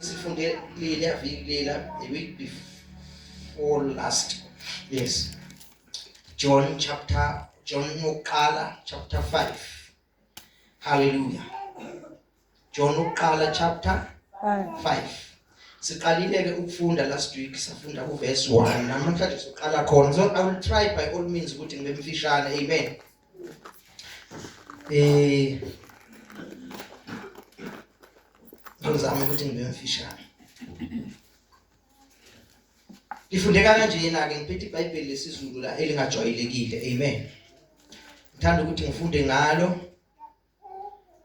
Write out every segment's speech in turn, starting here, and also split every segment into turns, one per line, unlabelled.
sifunde leliya viki lela the week before last yes john chapter john yokuqala chapter 5 hallelujah john yokuqala chapter 5 5 siqalile-ke ukufunda last week safunda kuverse 1 namhlanje soqala khona so i will try by all means ukuthi ngibe mfishane amen Eh Ngizama ukuthi ngibe mfishane. Ngifundeka kanjena ke ngiphethe iBhayibheli lesizulu la elingajwayelekile. Amen. Ngithanda ukuthi ngifunde ngalo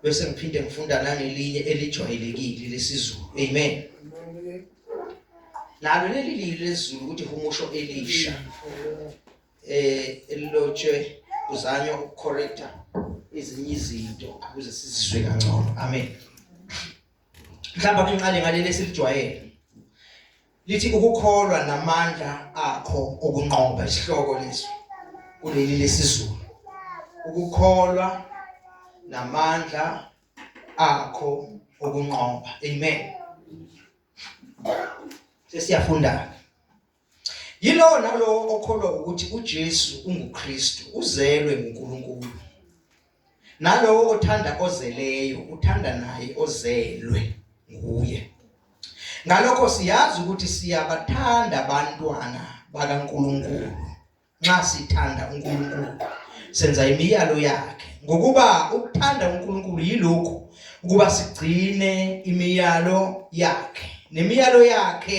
bese ngiphinde ngifunda nangelinye elijwayelekile lesiZulu amen nalo leli lilo lesiZulu ukuthi humusho elisha eh elilotshwe kuzanywa ukucorrecta ezinye izinto ukuze sizizwe kangcono amen mhlawumbe akunqale ngaleli esilijwayele lithi ukukholwa namandla akho okunqoba isihloko lesi kuleli lesizulu ukukholwa namandla akho okunqoba amen sesiyafunda yilowo nalowo okholwa ukuthi uJesu unguKristu uzelwe nguNkulunkulu nalowo othanda ozeleyo uthanda naye ozelwe nguye ngalokho siyazi ukuthi siyabathanda abantwana bakaNkuluNkulu nxa sithanda uNkulunkulu senza imiyalo yakhe ngokuba ukuthanda uNkulunkulu yilokhu ukuba sigcine imiyalo yakhe nemiyalo yakhe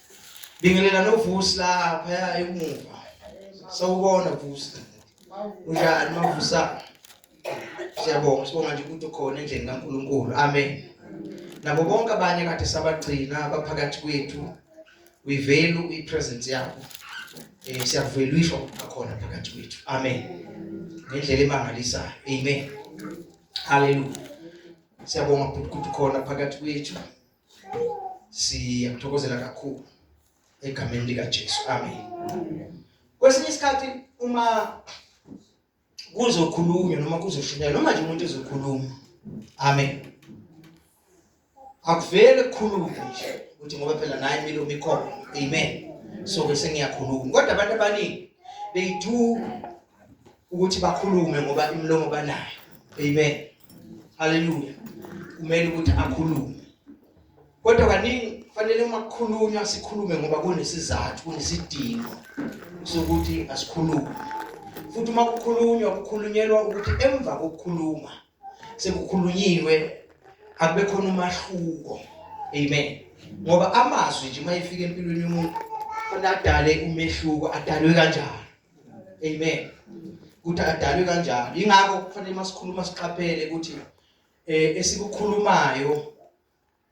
Bingelela novusi lapha ya emuva. Sawubona vusi. Unjani mavusa? Siyabonga sibonga nje ukuthi ukhona endlini kaNkuluNkulu. Amen. Nabo bonke abanye kade sabagcina abaphakathi kwethu. We value i presence yakho. Eh siyavelishwa ukukhona phakathi kwethu. Amen. Ngendlela emangalisayo. Amen. Hallelujah. Siyabonga ukuthi ukhona phakathi kwethu. siyakuthokozela kakhulu egameni likaJesu amen kwesinye isikhathi uma kuzokhulunywa noma kuzoshunyelwa noma nje umuntu ezokhuluma amen akuvele kukhulume nje ukuthi ngoba phela naye milo mikhona amen so bese ngiyakhuluma kodwa abantu abaningi they do ukuthi bakhulume ngoba imilomo banayo amen haleluya kumele ukuthi akhulume kodwa kaningi kufanele uma kukhulunywa sikhulume ngoba kunesizathu kunesidingo sokuthi asikhulume futhi uma kukhulunywa kukhulunyelwa ukuthi emva kokukhuluma sekukhulunyiwe akube khona umahluko amen ngoba amazwi nje uma efika empilweni yomuntu kufanele adale umehluko adalwe kanjani amen ukuthi adalwe kanjalo ingakho kufanele masikhuluma siqaphele ukuthi eh esikukhulumayo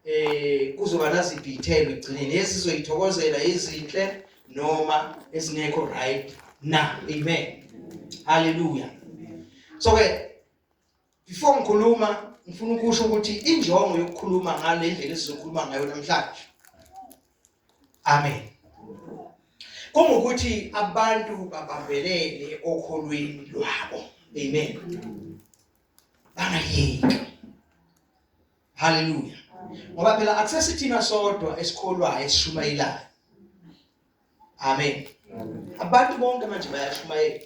eh kuzoba naziphi ithelo egcineni esizoyithokozela izinhle noma esingekho right na amen haleluya so ke Before ngikhuluma ngifuna ukusho ukuthi injongo yokukhuluma ngale ndlela esizokhuluma ngayo namhlanje. Amen. Kungukuthi abantu babambelele okholweni lwabo. Amen. Bangayeki. Hallelujah. Ngoba phela akusesithina sodwa esikholwayo esishumayelayo. amen abantu bonke manje bayashumayela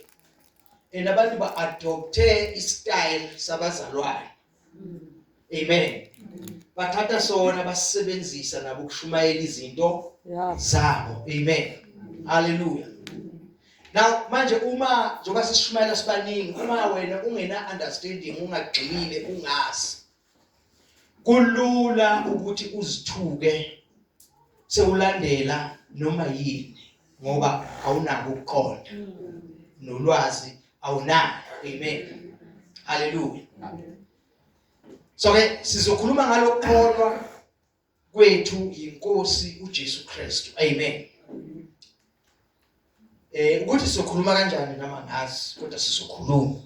and abantu ba-adopthe istyle sabazalwane amen bathatha sona basisebenzisa nabo ukushumayela izinto zabo amen haleluya Now manje uma njengoba sishumayela sibaningi uma wena ungena understanding ungagxilile ungazi kulula ukuthi uzithuke sewulandela noma yini ngoba awunako ukuqonda nolwazi awunalo amen haleluya so ke sizokhuluma ngalokukholwa kwethu yinkosi uJesu Kristu amen eh ukuthi sokhuluma kanjani nama ngazi kodwa sizokhuluma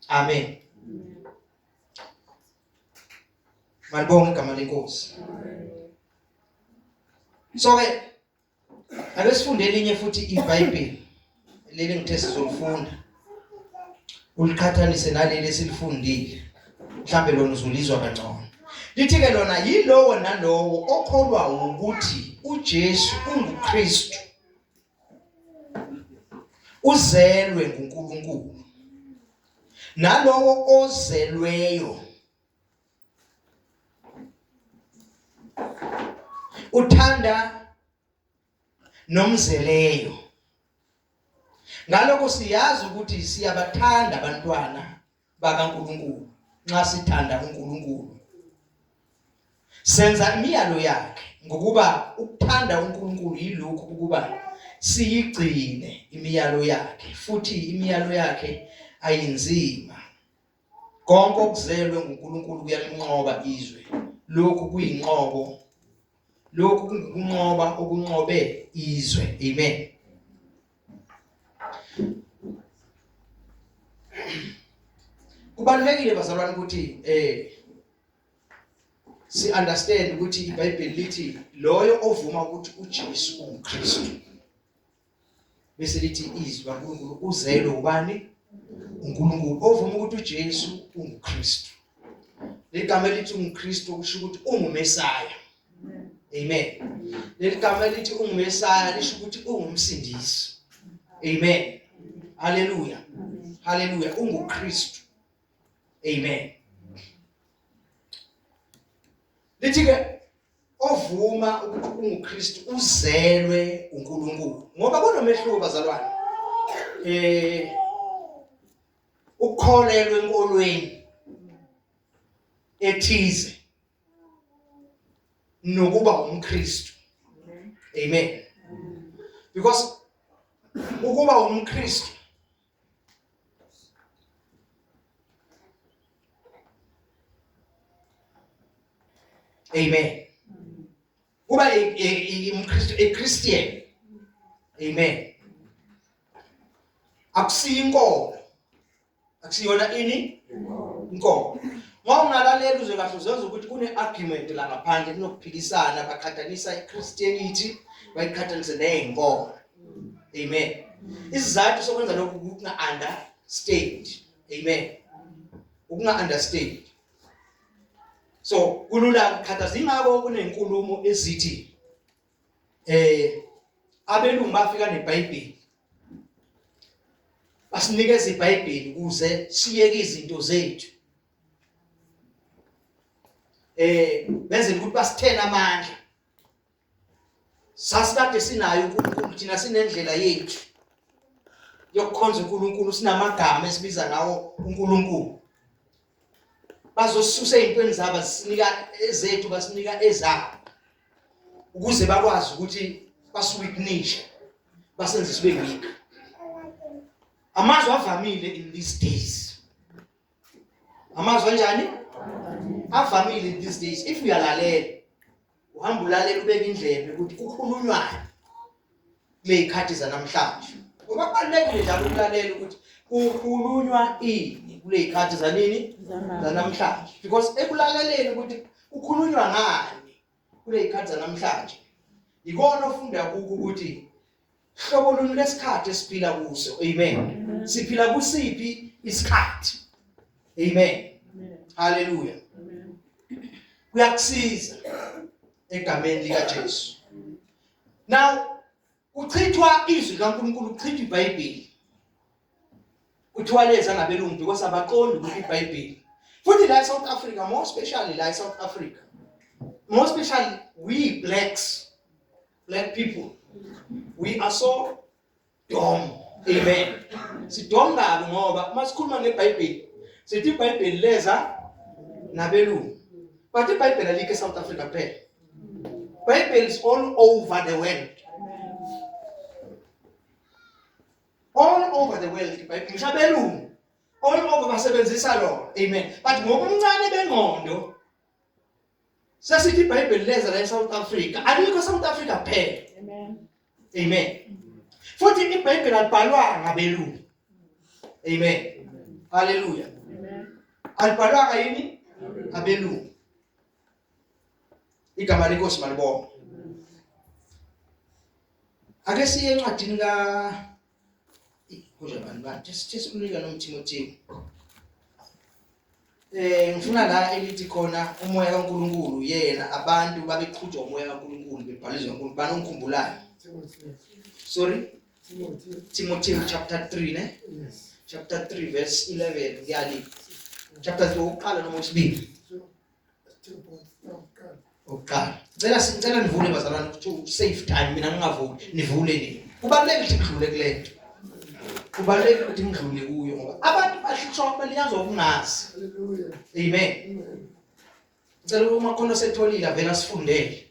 amen Malibonga igama lenkosi so ke Ake sifunde elinye futhi iBhayibheli leli ngithe sizolifunda uliqhathanise naleli esilifundile mhlambe lona uzulizwa kangcono lithi ke lona yilowo nalowo okholwa ukuthi uJesu unguKristu uzelwe nguNkulunkulu nalowo ozelweyo uthanda nomzeleyo ngalokho siyazi ukuthi siyabathanda abantwana bakaNkuluNkulu nxa sithanda uNkuluNkulu senza imiyalo yakhe ngokuba ukuthanda uNkuluNkulu yilokhu ukuba siyigcine imiyalo yakhe futhi imiyalo yakhe ayinzima Konke okuzelwe nguNkulunkulu kuyalinqoba izwe. Lokhu kuyinqobo. Lokhu kungokunqoba okunqobe izwe. Amen. Kubalulekile bazalwane ukuthi eh si understand ukuthi iBhayibheli lithi loyo ovuma ukuthi uJesu uNkristu bese lithi izwi kaNkulunkulu uzelwe ubani uNkulunkulu ovuma ukuthi uJesu unguKristu ligama elithi uNkristu kusho ukuthi ungumesaya amen leli gama elithi ungumesaya lisho ukuthi ungumsindisi amen haleluya haleluya unguKristu amen lithi ke ovuma ukuthi unguKristu uzelwe uNkulunkulu ngoba kunomehluko bazalwane eh ukholelwe enkolweni ethize nokuba umKristu amen because ukuba umKristu Amen. Kuba umKristu eChristian. Amen. Akusiyo inkomo. Akusiyona ini? Inkomo. Ngoba ungalalela uzwe kahle uzenza ukuthi kune argument la ngaphandle kunokuphikisana baqhathanisa iChristianity bayiqhathanise nezinkomo. amen isizathu sokwenza lokhu ukunga understand amen ukunga understand so kulula ukukhathaza ingakho kunenkulumo ezithi eh abelungu bafika nebhayibheli basinikeza ibhayibheli ukuze siyeke izinto zethu eh benzela ukuthi basithena amandla sasikade sinayo uNkulunkulu thina sinendlela yethu yokukhonza uNkulunkulu sinamagama esibiza ngawo uNkulunkulu bazosusa ezintweni zabo sinika ezethu basinika ezabo ukuze bakwazi ukuthi basiwitnishe basenze sibe weak amazwi avamile in these days amazwi anjani avamile in these days if uyalalela uhamba ulalela ubeka indlebe ukuthi kukhulunywayo kuley'khathi zanamhlanje ngoba kubalulekile njalo ukulalela ukuthi kukhulunywa ini kuley'khathi zanini zanamhlanje because ekulaleleni ukuthi kukhulunywa ngani kuley'khathi zanamhlanje yikona ofunda kukho ukuthi Hlobo luni lesikhathi esiphila kuso? Amen. Siphila kusiphi isikhathi? Amen. Hallelujah. Kuyakusiza egameni lika Jesu. Now kuchithwa izwi kaNkulunkulu kuchithwa iBhayibheli. Kuthiwa leza ngabelungu because abaqondi ukuthi iBhayibheli. Futhi la eSouth Africa more especially la eSouth Africa. More especially we blacks black people we are so dumb amen sidom kabi ngoba uma sikhuluma ngebhayibheli sithi ibhayibheli leza nabelungu but ibhayibheli alikho esouth africa kuphela bible is all over the world all over the world ibhayibheli ngisho abelungu all over basebenzisa lona amen but ngokuncane bengqondo Sasithi iBhayibheli lenza la eSouth Africa, alikho eSouth Africa kuphela. Amen. Amen. Futhi iBhayibheli alibhalwa ngabelungu. Amen. Hallelujah. Amen. Alibhalwa ngayini? Abelungu. Igama lenkosi malibonga. Ake siye encwadini ka Kuze bani bani just umlika nomthimothimo. Eh ngifuna la elithi khona umoya kaNkuluNkulu yena abantu babeqhutshwa umoya kaNkuluNkulu bebhalizwa uNkulunkulu banongikhumbulayo. Sorry. Timothy. Timothy chapter 3 ne? Yes. Chapter
3
verse 11 ngiyali. Chapter 3 ukuqala noma usibili. Ukuqala. Ngicela ngicela nivule bazalwane ukuthi save time mina ngingavuli. Nivule nini? Kubalulekile ukuthi ngidlule kule nto. Kubalulekile ukuthi ngidlule kuyo ngoba abantu bahlutshwa balinyazwa ukungazi. Hallelujah.
Amen.
Ngicela uma khona setholile avela sifundele.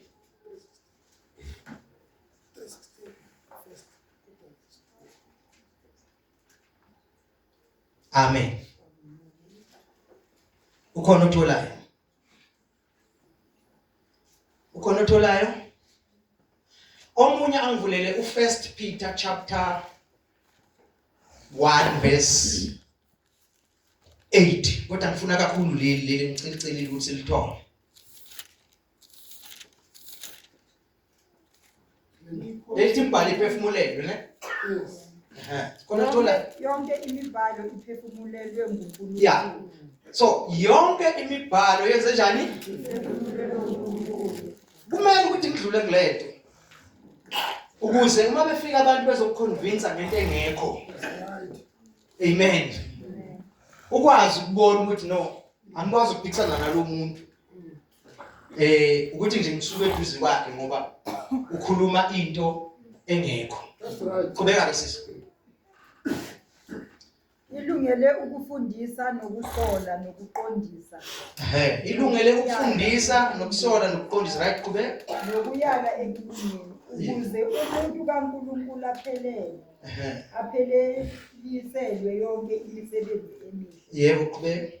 amen ukhona otholayo ukhona otholayo omunye angivulele uFirst Peter chapter 1 verse 8 kodwa ngifuna kakhulu leli leli ngicela ukuthi lithole Lethi imbali iphefumulelwe ne? Yes. Ehe.
Khona
thola Yonke imibhalo
iphefumulelwe nguNkulunkulu. Yeah.
so yonke imibhalo yenze njani? Iphefumulelwe nguNkulunkulu. Kumele ukuthi ngidlule kulento. Ukuze uma befika abantu bezokuconvince ngento engekho. Amen. Ukwazi ukubona ukuthi no angikwazi ukuphikisana nalomuntu. eh ukuthi nje ngisuke eduze kwakhe ngoba ukhuluma into engekho qhubeka
ke sisi
ilungele ukufundisa nokusola nokuqondisa ehe ilungele
ukufundisa nokusola nokuqondisa right qhubeka nokuyala
ekulungeni ukuze umuntu kaNkuluNkulu aphelele ehe aphelelisele yonke imisebenzi emihle yebo qhubeka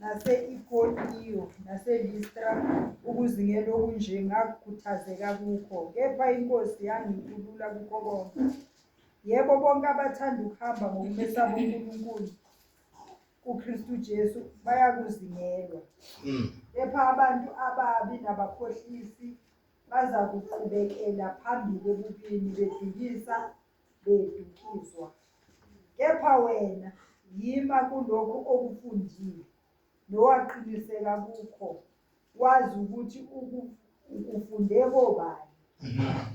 nase-Ikoniyo naseListra ukuzingela okunje ngakhuthazeka kukho, kepha iNkosi yangikhulula kukho konke. Yebo, bonke abathanda ukuhamba ngokumesaba uNkulunkulu uKristu Jesu bayakuzingelwa. Hmm. Kepha abantu ababi nabakhohlisi bazakuqhubekela phambili ebubini bedlulisa bedukiswa. Kepha wena yima kulokho okufundile nowaqiniseka kukho wazi ukuthi ukufunde kobani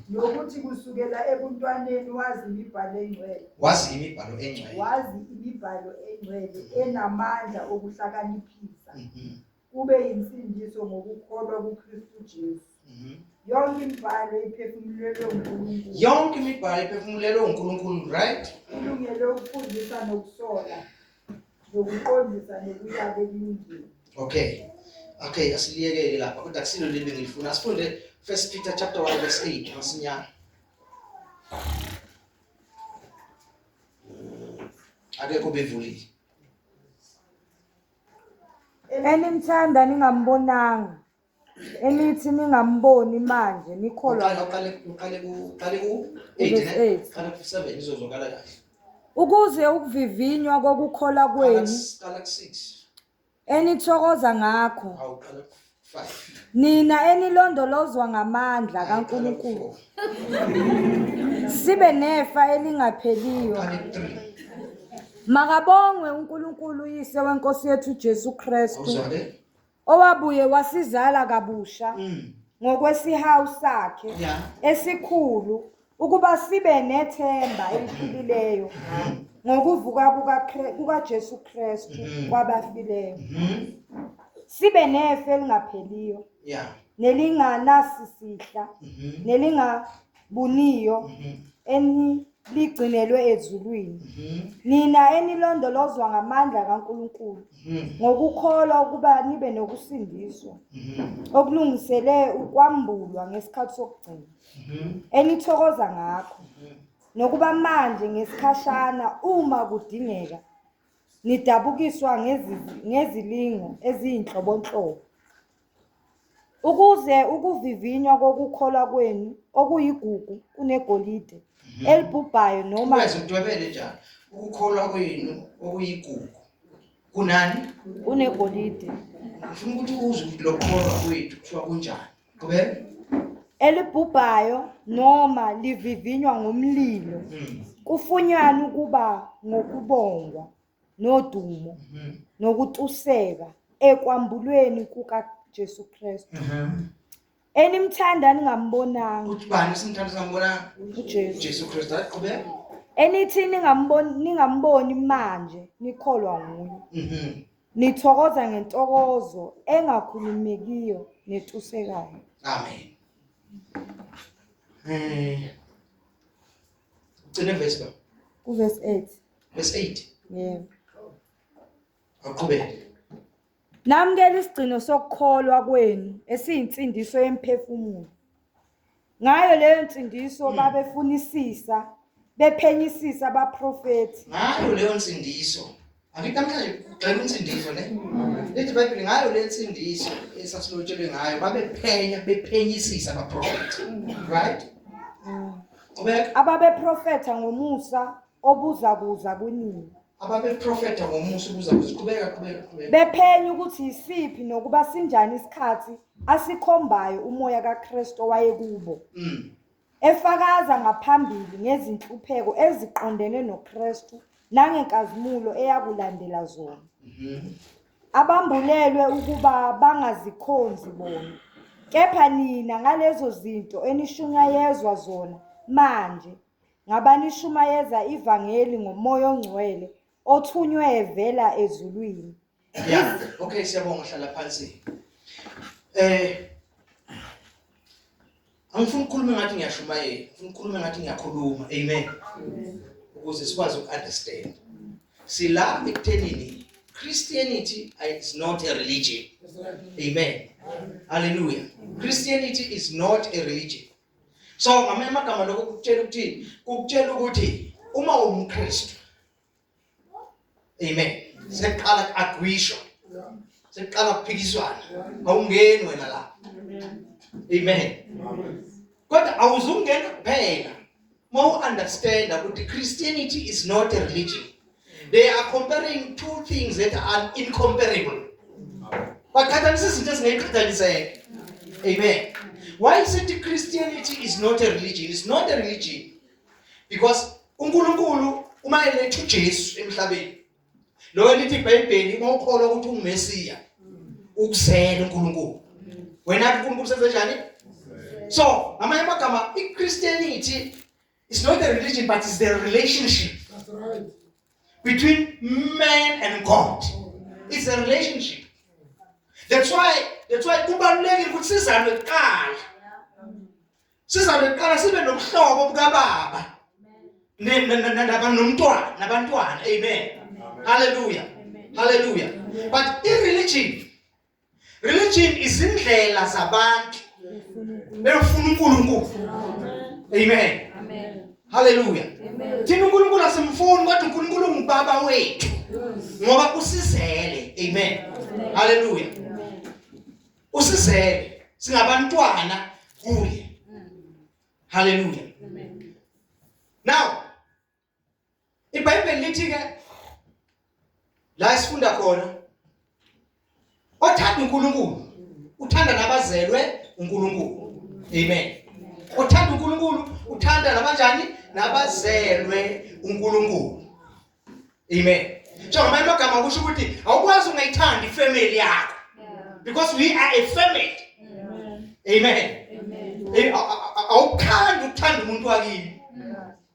nokuthi kusukela ebuntwaneni wazi imibhalo engcwele wazi imibhalo
engcwele wazi imibhalo
engcwele enamandla okuhlakaniphisa mm-hmm. ube yinsindiso ngokukholwa kuKristu Jesu. Mhm. Yonke imibhalo iphefumulelwe uNkulunkulu. Yonke imibhalo
iphefumulelwe uNkulunkulu, right? Ilungele ukufundisa
nokusola nokuqondisa nokuyaka ekulungeni. Okay.
Okay, asiliyekele lapha kodwa kusilo leli ngilifuna. Asifunde First Peter chapter 1 verse 8 masinyane. Akekho bevulile.
enimthanda ningambonanga enithi ningamboni manje nikholwa
ukuze
ukuvivinywa kokukholwa kwenu
enithokoza
ngakho
nina
enilondolozwa ngamandla kaNkulunkulu sibe nefa elingapheliyo makabongwe uNkulunkulu uyise wenkosi yethu Jesu Kristu
owabuye
wasizala kabusha mm. ngokwesihawu sakhe
esikhulu
Ukuba sibe nethemba eliphilileyo ngokuvuka kukaJesu Kristu mm-hmm. kwabafileyo. Mm-hmm. Sibe nefe elingapheliyo. Yeah. Nelinganasisihla, mm-hmm. nelingabuniyo eni ligcinelwe ezulwini mhm. nina enilondolozwa ngamandla kaNkuluNkulu mhm. ngokukholwa ukuba nibe nokusindiswa mhm. okulungisele ukwambulwa ngesikhathi sokugcina enithokoza ngakho nokuba manje ngesikhashana uma kudingeka nidabukiswa ngezi- ngezilingo eziyinhlobonhlobo ukuze ukuvivinywa kokukholwa kwenu okuyigugu kunegolide elibhubhayo noma Ungeze udwebele njalo.
Ukukholwa kwenu okuyigugu. Kunani? kunegolide
Ngifuna
ukuthi uzwe ukuthi lokholwa kwethu kuthiwa kunjani. qhubeka
elibhubhayo noma livivinywa ngomlilo mm. kufunyanwa ukuba ngokubongwa nodumo mm-hmm. nokutuseka ekwambulweni kukaJesu Kristu mm-hmm. enimthanda ningambonanga ubani simthanda
singambonanga uJesu Jesu
Kristu
aqhubeka enithi
ningamboni ningamboni manje nikholwa nguye mm-hmm. Nithokoza ngentokozo engakhulumekiyo netusekayo. Amen. Eh. Ugcine verse ba? Ku
verse 8. Verse 8.
Yebo.
Aqhubeke.
Namukela isigcino sokukholwa kwenu esiyinsindiso yemphefumulo. Ngayo leyo nsindiso hmm. babefunisisa bephenyisisa abaprofethi. Ngayo leyo
nsindiso Angithi namhlanje ugxeka insindiso ne? Lithi iBhayibheli ngayo le nsindiso esasilotshelwe ngayo babephenya bephenyisisa abaprofethi. Right? Ababeprofetha
ngomusa obuza kuza kunini. ababeprofetha
ngomusa ukuza kuziqhubeka qhubeka qhubeka bephenya
ukuthi yisiphi nokuba sinjani isikhathi asikhombayo umoya kaKristu owayekubo Mm. efakaza ngaphambili ngezinhlupheko eziqondene noKristu nangenkazimulo eyakulandela zona Mhm. abambulelwe ukuba bangazikhonzi bona kepha nina ngalezo zinto enishunyayezwa zona manje ngabanishumayeza ivangeli ngomoya ongcwele othunywe evela ezulwini ya
okay siyabonga hlala phansi eh angifuni ukukhuluma ngathi ngiyashumayela ngifuna ukukhuluma ngathi ngiyakhuluma amen ukuze sikwazi ukunderstand sila ekuthenini christianity is not a religion amen hallelujah christianity is not a religion so ngamanye amagama lokho kukutshela ukuthi kukutshela ukuthi uma umKristu amen seqala agwisho seqala kuphikiswana awungeni wena la amen kodwa awuzungena kuphela Uma u understand ukuthi Christianity is not a religion. They are comparing two things that are incomparable. Baqhathanisa izinto ezingaqhathaniseki. Amen. Why is it Christianity is not a religion? It's not a religion. Because uNkulunkulu uma eletha uJesu emhlabeni Loyo lithi iBhayibheli uma ukholwa ukuthi ungumesiya ukuzela uNkulunkulu. Wena uNkulunkulu senze njani? So, ngamanye amagama iChristianity is not a religion but is the relationship. That's right. Between man and God. It's a relationship. That's why that's why kubalulekile ukuthi sizalwe kuqala. sizabe kuqala sibe nobuhlobo bukababa nomntwana nabantwana amen haleluya haleluya but ireligion religion izindlela zabantu befuna uNkulunkulu amen haleluya thina uNkulunkulu asimfuni kodwa uNkulunkulu ungubaba wethu ngoba usizele amen haleluya usizele singabantwana kuye haleluya amen now ibhayibheli lithi ke la sifunda khona othanda uNkulunkulu uthanda nabazelwe uNkulunkulu amen othanda uNkulunkulu uthanda nabanjani nabazelwe uNkulunkulu Amen. So ngamanye amagama kusho ukuthi awukwazi ungayithandi ifamily yakho because we are a family. Amen. Eh, awukhandi ukuthanda umuntu wakini.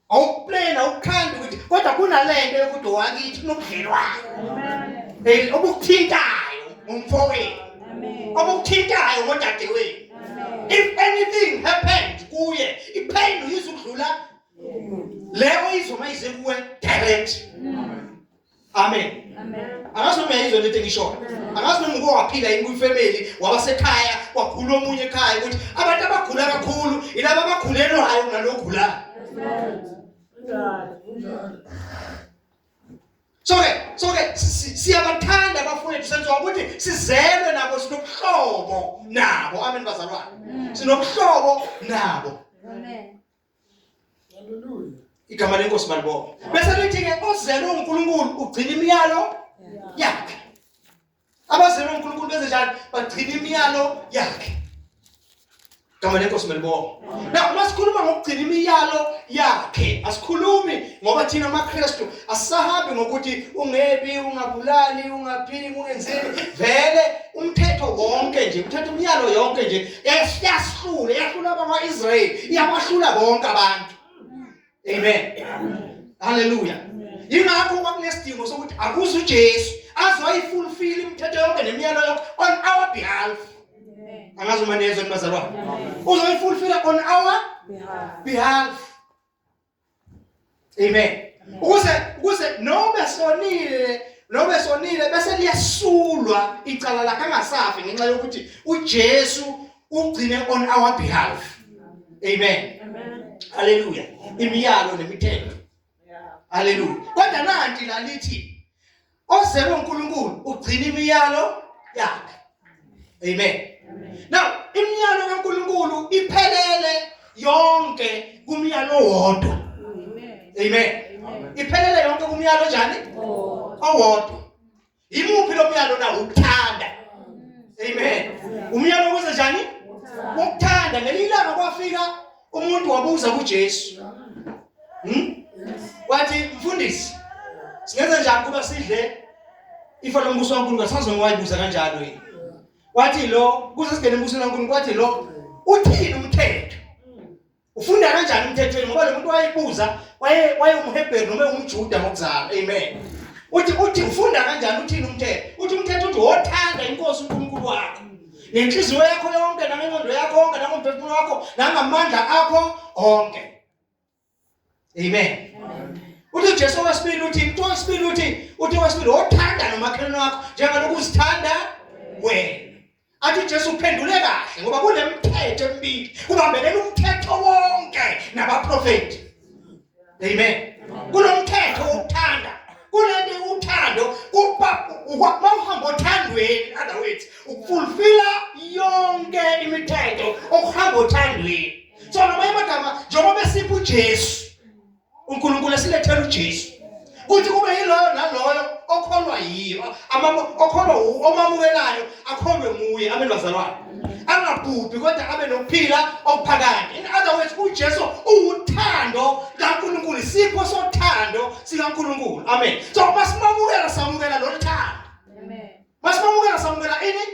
Awuplena awukhandi ukuthi kodwa kunalento yokuthi wakithi nobudlelwane. Amen. Eh, obukuthintayo umfowenu. Amen. Obukuthintayo ngodadewenu. If anything happened kuye, ipain uyizukudlula leyo izwa mayize kuwe direct amen angazi noma yayizwa lento engishoyo angazi noma uke waphila yini kwifamily wabasekhaya wagula omunye ekhaya ukuthi abantu abagula kakhulu ilaba abagulelwayo ngalogulayo soke soke siyabathanda abafowethu senziwa ukuthi sizelwe nabo sinobuhlobo nabo amen bazalwane sinobuhlobo nabo amen
Hallelujah.
Igama
lenkosi malibonga. Bese lithi ke ozelwe uNkulunkulu ugcina imiyalo yakhe. Abazelwe uNkulunkulu benze njani? Bagcina imiyalo yakhe. Igama lenkosi malibonga. Na uma sikhuluma ngokugcina imiyalo yakhe, asikhulumi ngoba thina amaKristu asahambi ngokuthi ungebi, ungabulali, ungaphili, ungenzeni. Vele umthetho wonke nje, umthetho umyalo yonke nje yahlula yahlula abakwa-israyeli iyabahlula bonke abantu amen halleluya yingakho kwakunesidingo sokuthi akuze ujesu azoyifulfile imithetho yonke nemiyalo yonke on our behalf angazi uma nezwe nibazalwane uzoyifulfila on our behalf Amen. Ukuze ukuze noma sonile noma sonile bese liyasulwa icala lakhe angasafi ngenxa yokuthi uJesu ugcine on our behalf. Amen. Amen. Hallelujah. Imiyalo nemithetho. Yeah. Hallelujah. Kodwa nanti lalithi Ozelwe uNkulunkulu ugcina imiyalo yakhe. Amen. Now imiyalo kaNkulunkulu iphelele yonke kumyalo wodwa. Amen. Iphelele yonke kumyalo njani? Owodwa. Yimuphi lo myalo na ukuthanda? Amen. Umyalo ukuze njani? Ukuthanda ngelinye ilanga kwafika umuntu wabuza kuJesu hmm? wathi mfundisi singenza njani kuba sidle ifa lombuso waNkulunkulu asazi ngowayibuza kanjalo yini wathi lo kuze singene embusweni waNkulunkulu wathi lo uthini umthetho ufunda kanjani umthethweni ngoba lo muntu wayebuza waye wayewumhebheru noma ewumjuda ngokuzalwa amen uthi uthi ufunda kanjani uthini umthetho uthi umthetho uthi wothanda inkosi uNkulunkulu wakho ngenhliziyo yakho yonke nangengqondo yakho yonke nangomphefumulo wakho nangamandla akho onke amen uthi Jesu wesibili uthi into wesibili uthi uthi wesibili wothanda nomakhelwane wakho njengalokhu uzithanda wena athi Jesu uphendule kahle ngoba kunemithetho emibili kubambelele umthetho wonke nabaprofeti amen kulomthetho wokuthanda kulento uthando kuba ukwamahamba othandweni other words ukufulfilla yonke imithetho okuhamba othandweni so ngamanye amagama njengoba besipha uJesu uNkulunkulu esilethela uJesu kuthi kube yiloyo naloyo okholwa yiyo okholwa omamukelayo akholwe nguye abe nozalwane angabhubhi kodwa abe nokuphila okuphakade in other words uJesu uwuthando kaNkuluNkulu sipho sothando sikaNkuluNkulu amen so masimamukela samukela lolu thando
Masimamukela samukela
ini?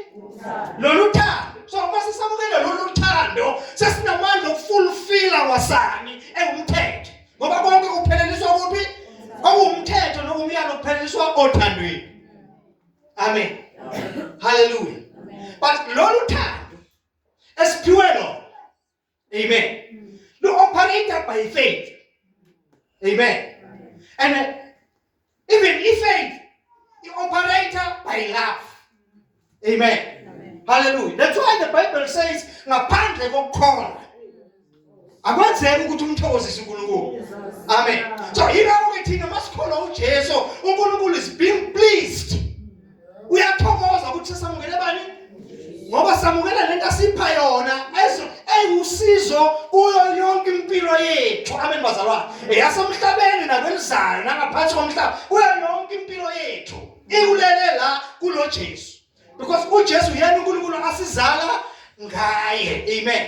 Lolu thando. So mase samukela lolu thando sesinamandla okufulfilla wasani engumthetho. Ngoba konke kupheleliswa kuphi? Okuwumthetho nokumyalo kupheleliswa othandweni. Amen. Hallelujah. But lolu thando esiphiwe lona Amen. Mm. Lo operator by faith. Amen. And uh, even if faith, the operator by love. Amen. Amen. Hallelujah. That's why the Bible says ngaphandle kokukhona akwenzeki ukuthi umthokozise uNkulunkulu. Amen. So yilapho ke thina masikholwa uJesu, uNkulunkulu is being pleased uyathokoza ukuthi samukele bani ngoba samukela lento asipha yona eyiwusizo kuyo yonke impilo yethu amen bazalwane eyasemhlabeni nakwelizayo nangaphansi komhlaba kuyo yonke impilo yethu ikulele la kulo Jesu because uJesu yena uNkulunkulu asizala ngaye amen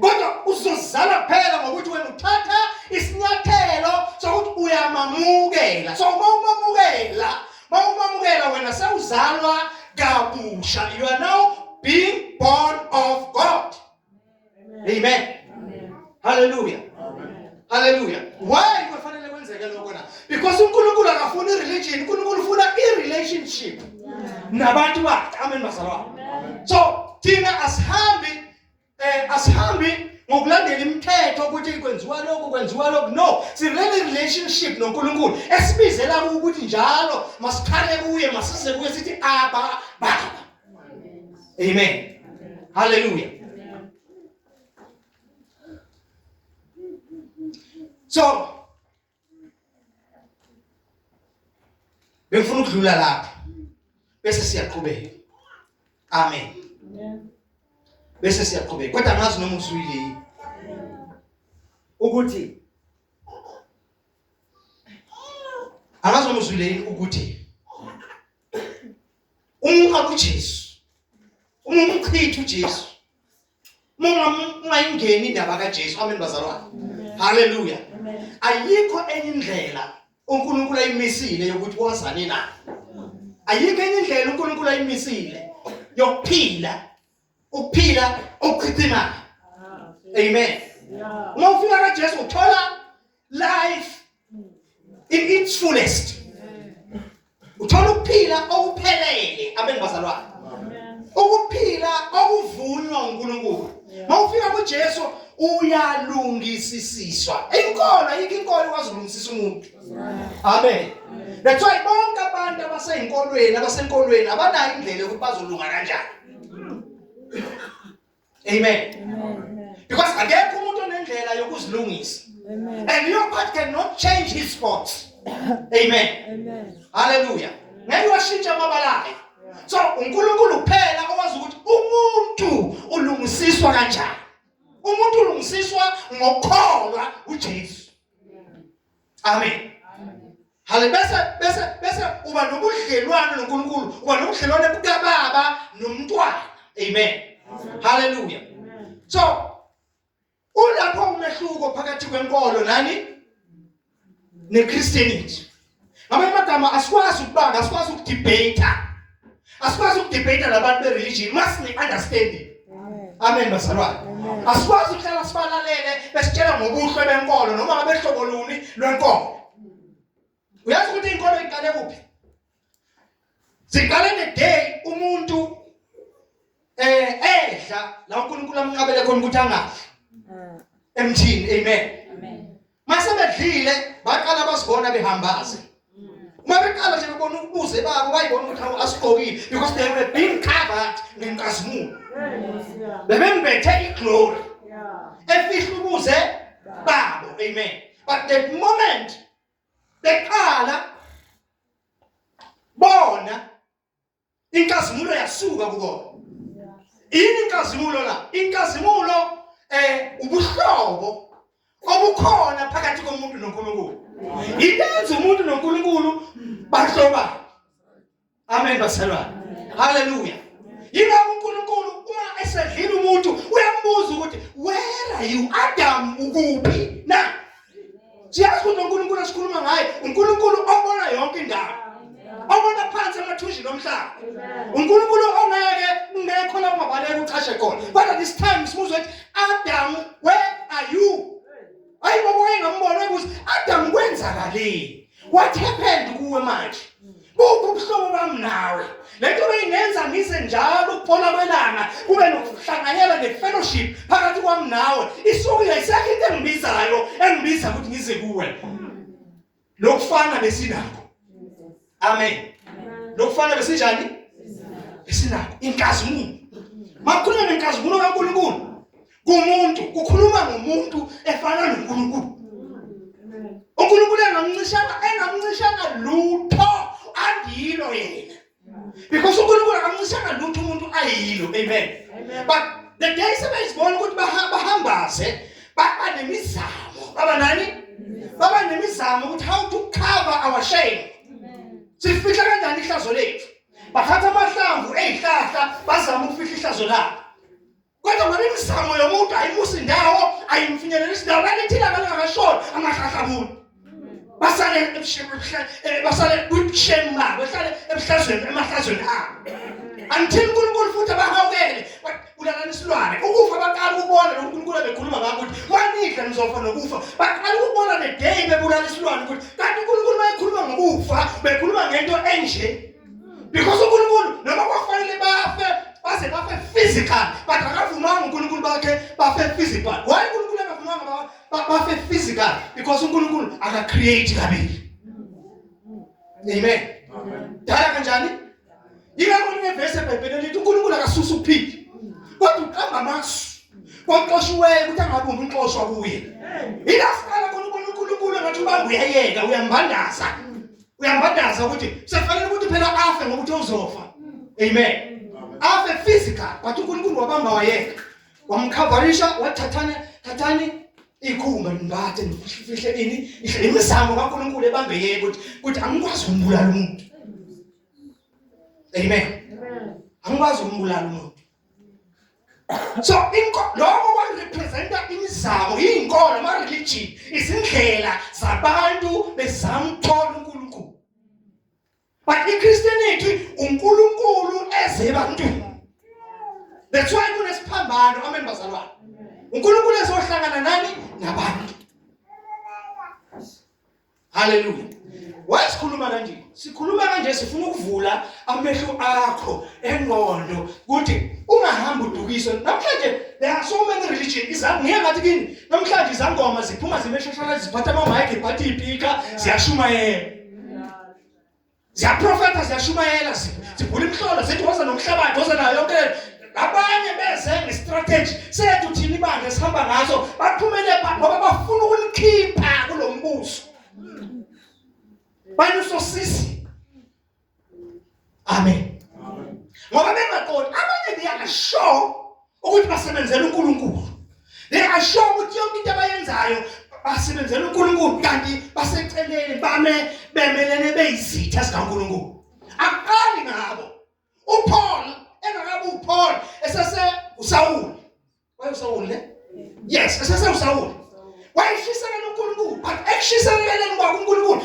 kodwa uzozala phela ngokuthi wena uthatha isinyathelo sokuthi uyamamukela so uma umamukela Uma umamukela wena sewuzalwa kabusha. You are now being born of God. Amen. Amen. Hallelujah. Amen. Hallelujah. Why kufanele kwenzeke lokho na? Because uNkulunkulu akafuni religion, uNkulunkulu ufuna i relationship. Nabantu bakhe. Amen bazalwane. So thina asihambi eh asihambi ngokulandela imithetho ukuthi kwenziwa lokhu kwenziwa lokhu no sirele relationship noNkulunkulu esibizela ukuthi njalo masikhale kuye masize kuye sithi aba baba amen hallelujah so bengifuna ukudlula lapha bese siyaqhubeka amen bese siyaqhubeka kodwa ngazi noma uzwile ukuthi angazi noma uzwile ukuthi uma uJesu uma umchitha uJesu ungayingeni indaba kaJesu amen bazalwane haleluya ayikho enye indlela uNkulunkulu ayimisile yokuthi wazane naye ayikho enye indlela uNkulunkulu ayimisile yokuphila ukuphila okuchichimana amen uma ufika kaJesu uthola life in its fullest uthola ukuphila okuphelele amen bazalwane ukuphila okuvunywa uNkulunkulu mawufika kuJesu uyalungisisiswa inkolo ayikho inkolo ikwazi ukulungisisa umuntu amen that's why bonke abantu abaseyinkolweni abasenkolweni abanayo indlela yokuthi bazolunga kanjani Amen. Amen. Because akekho umuntu onendlela yokuzilungisa. Amen. And your part cannot change his thoughts. Amen. Amen. Hallelujah. Ngeke washintsha amabalayo. So uNkulunkulu kuphela owazi ukuthi umuntu ulungisiswa kanjani. Umuntu ulungisiswa ngokukholwa uJesu. Amen. Hale bese bese bese uba nobudlelwane noNkulunkulu, uba nobudlelwane bukababa nomntwana. Amen. Hallelujah. So ulapho umehluko phakathi kwenkolo nani neChristianity. Ngamanye amagama asikwazi ukubanga, asikwazi ukudebate. Asikwazi ukudebate labantu bereligion masine understanding. Amen bazalwane. Asikwazi ukuhlala sibalalele besitshela ngobuhle benkolo noma ngabe hlobo luni lwenkolo. Uyazi ukuthi inkolo iqale kuphi? Siqale the day umuntu eh edla la uNkulunkulu amqabele khona ukuthi angafi mm. emthini amen amen mase bedlile baqala basibona behambaze uma mm. beqala nje bebona ukubuze babo bayibona ukuthi awu asigqokile because they were being covered ngenkazimulo bebembethe iglory efihla ukuze babo amen but the moment beqala bona inkazimulo yasuka kukona yini inkazimulo la inkazimulo eh ubuhlobo obukhona phakathi komuntu noNkulunkulu ilenza umuntu noNkulunkulu bahloba amen basalwana haleluya yila uNkulunkulu uma esedlile umuntu uyambuza ukuthi where are you Adam ukuphi na siyazi ukuthi uNkulunkulu esikhuluma ngaye uNkulunkulu obona yonke indawo obona phansi emathunjini omhlaba uNkulunkulu ongeke ungekho lapho mabaleka uchashe khona kodwa this time simuzwe ukuthi Adam where are you ayi bobo engambona ukuthi Adam kwenzakaleni what happened kuwe manje buphi ubuhlobo bami nawe lento beyingenza ngize njalo ukuphola kwelanga kube nokuhlanganyela ne-fellowship phakathi kwami nawe isuke yayisekho into engibizayo engibiza ukuthi ngize kuwe lokufana besinakho amen lokufana besinjani besinakho inkazimulo makhuluma nenkazimulo kankulunkulu kumuntu kukhuluma ngomuntu efana noNkulunkulu uNkulunkulu engamncishanga engamncishanga lutho andilo yena because uNkulunkulu akamncishanga lutho umuntu ayilo amen but the day sebezibona ukuthi bahambaze baba nemizamo baba nani baba nemizamo ukuthi how to cover our shame sifihla kanjani ihlazo lethu bathatha amahlamvu ezihlahla bazama ukufihla ihlazo labo kodwa ngoba imizamo yomuntu ayimusi ndawo ayimfinyelelisi ndawo lalithila ngalingakashoni amahlahlabuni basale eh, basale kwibusheni babo bahlale ebuhlazweni emahlazweni abo until uNkulunkulu futhi abahawukele kulalana isilwane ukufa baqala ukubona lo uNkulunkulu abekhuluma ngakho ukuthi wanidla nizofa nokufa baqala ukubona the day bebulala isilwane ukuthi kanti uNkulunkulu mayekhuluma ngokufa bekhuluma ngento enje because uNkulunkulu noma kwafanele bafe baze bafe physical but akavumanga uNkulunkulu bakhe bafe physical why uNkulunkulu akavumanga bafe physical because uNkulunkulu aka create kabili amen dala kanjani yingakho kunevesi ebhayibhelini lithi uNkulunkulu akasusa ukuphila kodwa uqamba amasu kwaxoshiweyo ukuthi angabumbi unxoshwa kuye yilasiqala khona ubona uNkulunkulu ngathi ubamba uyayeka uyambandaza uyambadaza ukuthi sekufanele ukuthi phela afe ngokuthi uzofa amen afe physical but uNkulunkulu wabamba wayeka wamkhavarisha wathathana thathani ikhumba nimbathe nifihle ini ihle imizamo kaNkulunkulu ebambe yeke ukuthi ukuthi angikwazi ukumbulala umuntu amen angikwazi ukumbulala umuntu so lokho kwarepresenta imizamo iy'nkolo ama-religion izindlela zabantu bezama ukuthola unkulunkulu but ichristianity unkulunkulu eze ebantwini that's why kunesiphambano amen bazalwane unkulunkulu ezohlangana nani nabantu haleluya why sikhuluma kanje sikhuluma kanje sifuna ukuvula amehlo akho engqondo ukuthi ungahambi udukiswe namhlanje there are so many religion izangiye ngathi kini namhlanje izangoma ziphuma zimeshashana ziphatha ama mic iphatha ipika ziyashumayela ziyaprofetha ziyashumayela zivula imhlolo zithi woza nomhlabathi woza nayo yonke abanye beze ngestrategy sethu thina ibandla esihamba ngaso baphumele pha ngoba bafuna ukulikhipha kulo mbuso bayusosisi amen ngoba bengaqondi abanye they are sure ukuthi basebenzela uNkulunkulu they are sure ukuthi yonke into abayenzayo basebenzela uNkulunkulu kanti baseceleni bame bemelene beyizitha sikaNkulunkulu aqali ngabo uPaul engakabi uPaul esese uSawuli wayesawuli yes esese uSawuli wayeshisekela uNkulunkulu but ekushisekeleni kwakhe uNkulunkulu